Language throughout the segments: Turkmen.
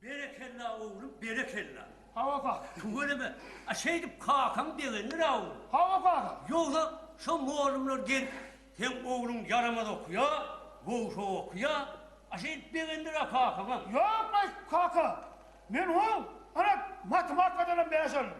Berekella oglum berekella. Hawa kaka. Tüweleme. A şeýdip kakaň begendir a oglum. Hawa kaka. Ýogsa şo mollumlar gelip seň ogluň ýaramaz okýa, gowy-sow okýa, a şeýdip begendir a kakaňa. Ýok aý kaka. Men oň ana matematikadanam bäş aldym.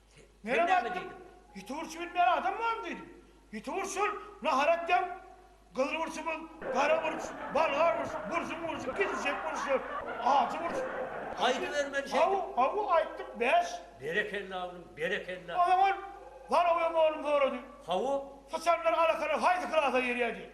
Sen näme diýdiň? Ýiti burç bilmeýän adam barmy diýdim. Ýiti burç şol, nahar etýän gyzyl burçumyz, gara burç, bolgar burç, burjuň burçy, gijijek burçlar, ajy burç. Aýdyber men şeýdip. Haw, haw, aýtdym, bäş. Berekella oglum, berekella. Onsoň ol Zalowy oglum sorady. Haw. Syçanlar alakalar haýsy klasa girýär diýip.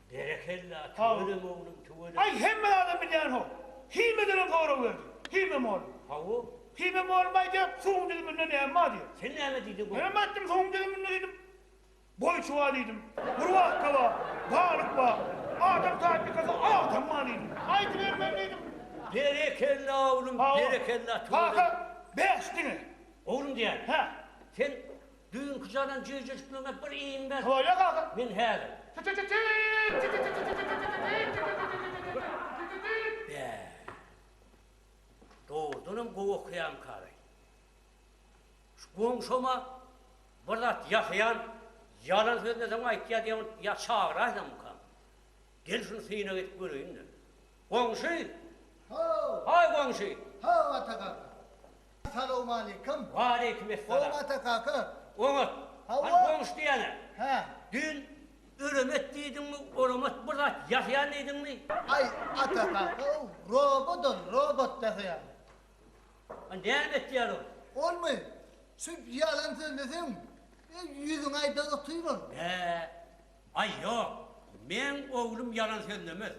Berekella tüweleme oglum tüweleme. Aý hemme zadam bilýänhok. Himýa derek zorag berdi. Himýa mugallym. Hawa. Himýa mugallym aýdýar suwuň düzüminde näme bar diýip. Sen näme diýdiň gowy. Menem aýtdym suwuň düzüminde diýdim. Goýçy bar diýdim. Gurbatka bar. Balyk bar. Adam taýpykasy agtam bar diýdim. Aýdyber men diýdim. Berekella oglum berekella tüweleme. Hawa. Kaka bäş diňe. Oglum diýýän. Hä. Sen Düýnki jalan jüýjüjikligiňe bir iýin ber. Toýa gazyk. Men häzir. Bäh. Dogrudanam gowy okaýamyka-laý? Şu goňşama bir zat ýasaýan ýalan söz desem aýtýa diýýän bolup ýa çagyraýsamykam? Gel şuny synag edip göreýin-de. Goňşy! Haw! Haý, goňşy! Haw, Atagarry! Salowmalikim. Waleýkim essalam. Oňata kaka. Oňat. Hany goňşy diýäne. Hä. Düýn Ölemet diýdiňmi, olamat bir zat ýasaýan diýdiňmi? Aý, Ata kaka ow, robot ol, robot ýasaýan. A näme etýär ol? Olmy? Şu ýalan sözleseň, ýüzüňe aýda otyr ol. Bä. Aý ýok. Meň oglum ýalan sözlemez.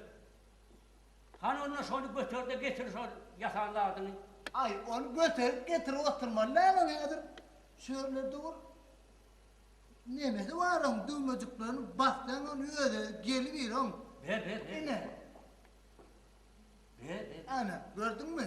Hany onda şony göter-de getir şol ýasan zadyňy. Aý, ony göterip getirip oturmaly däl ony häzir şu ýerler dur. Nemesi bar oň düwmejiklerini bassaň ony özi gelibir oň. Ber, ber, ber. Ine. Ber, ber. Ana, gördüňmi?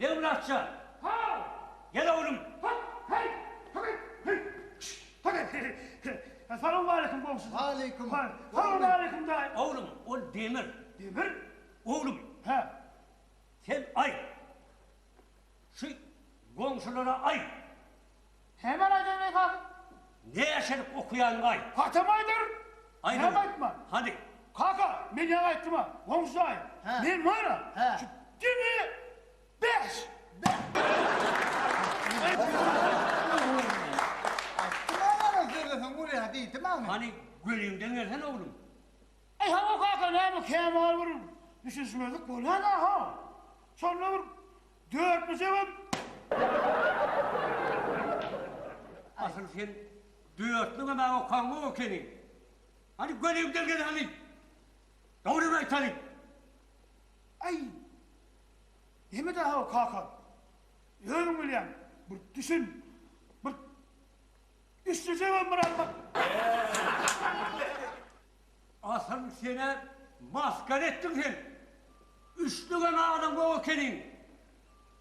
Döwlatjan! Haw! Gel oglum! Hop! Heý! Hygy! Hyý! Şş! Hygy! Hyý! Salawmaleýkim goňşy! Waleýkim! Salawmaleýkim daýy! Oglum, ol Demir. Demir? Oglum! Hä? Sen aý! Şu goňşulara aý! Hemen aýdaýyn esas. Näşelik okaýanyňaý. Gatam aýdaryn. Näme aýtman. Hany. Kaka, men ýaňy aýtdym-a, goňşy jaýym. Hä. Men mana. Hä. Şu diňe bäş. Aýtdym-a maňa sözleseň bolýa diýdim-a men. Hany, göliňden gelsene oglum. Aý, hawa kaka, näme kämal bir düşünişmezlik bolýan-a, hawa. Şonda bir. Dört mi sebet? Asyl sen dörtlügem a okaňok ekeniň. Hany göni gelgeli hany. Dogrymy aýtaly. Aý. Neme daha o kaka? Özüň bilýäň. Bir düşün. Bir Üçlüjegem bir almak. Asyl senä masgara etdim sen. Üç döwem adam bok ekeniň.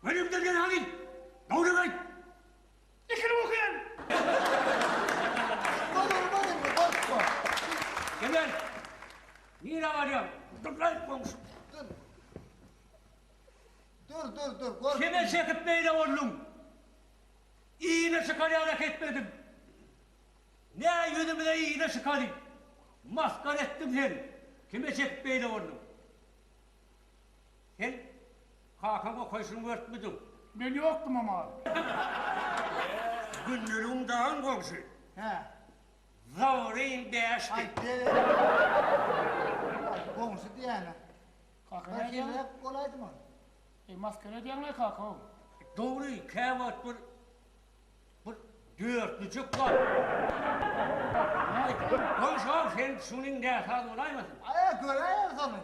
Günüňden gel hany. Dowluk aýt. Dikilip okaýan. Emel, nirä barýaň? Durlaý, goňşy. Dur. Dur, dur, dur, gorkma. Kime çekip beýle bolduň? Yzyna çykarýan-a ketmedim. Nä ýüzümize yza çykalyň? Masgara etdiň sen, kime çekip beýle bolduň? Sen kakaň okaýşyny görüpmidiň? Men ýokdum o mahaly. Gündeligiň daýan goňşy. Hä. Zawyryň bäşdi. Goňşy diýýän-ä. Kaka nädýäň? Wekilräk bolaýdym ol. Eý, masgara edýäň-le kaka-ow. Dogry, käwagt bir Bir dörtli juk bar. Goň şol sen şunyň näsaz bolaýmasyn. Aý göräýeris ony.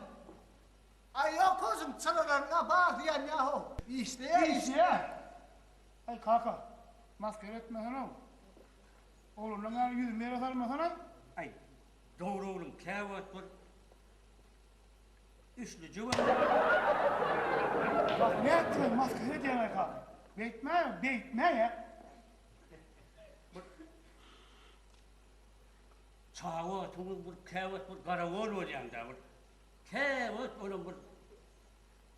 Aý ýok hoşum çyralaryňa bar diýen ýaho. Işleýär işleýär. Aý kaka maskara etmesene-ow. Oglanlaň ýaly ýüzüni ýere salmasana. Aý dogry oglum käwagt bir. Üçli jüwünlik. Bak nätdiler maskara edýäňä ka. Beýtme, beýtme ýa. Çawa tuňuň bir käwagt bir garagol bolýanda bir. Käwagt olam bir.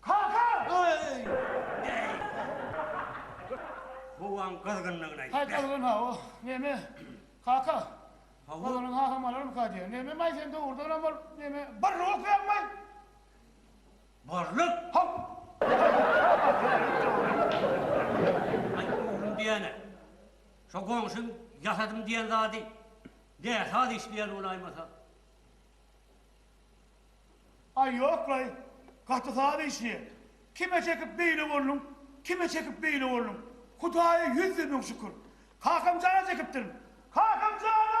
Kaka! Howaň gyzgynlygyna Haý gitme. gyzgyn-a o, neme? Kaka, Hawa. ozanyň hasam alarmyka diýýän. Nememaý sen dogrudanam ol neme, barlyk okaýaňmaý? Barlyk? Haw! Aý, oglum diýýän-ä. Şo goňşyň ýasadym diýen zady näsaz işleýän bolaýmasa? Aý ýoklaý, gaty saz işleýä. Kime çekip beýle bolduň, kime çekip beýle bolduň. Hudaýa ýüzde müň şükür. Kakamjana çekipdirin. Kakamjana!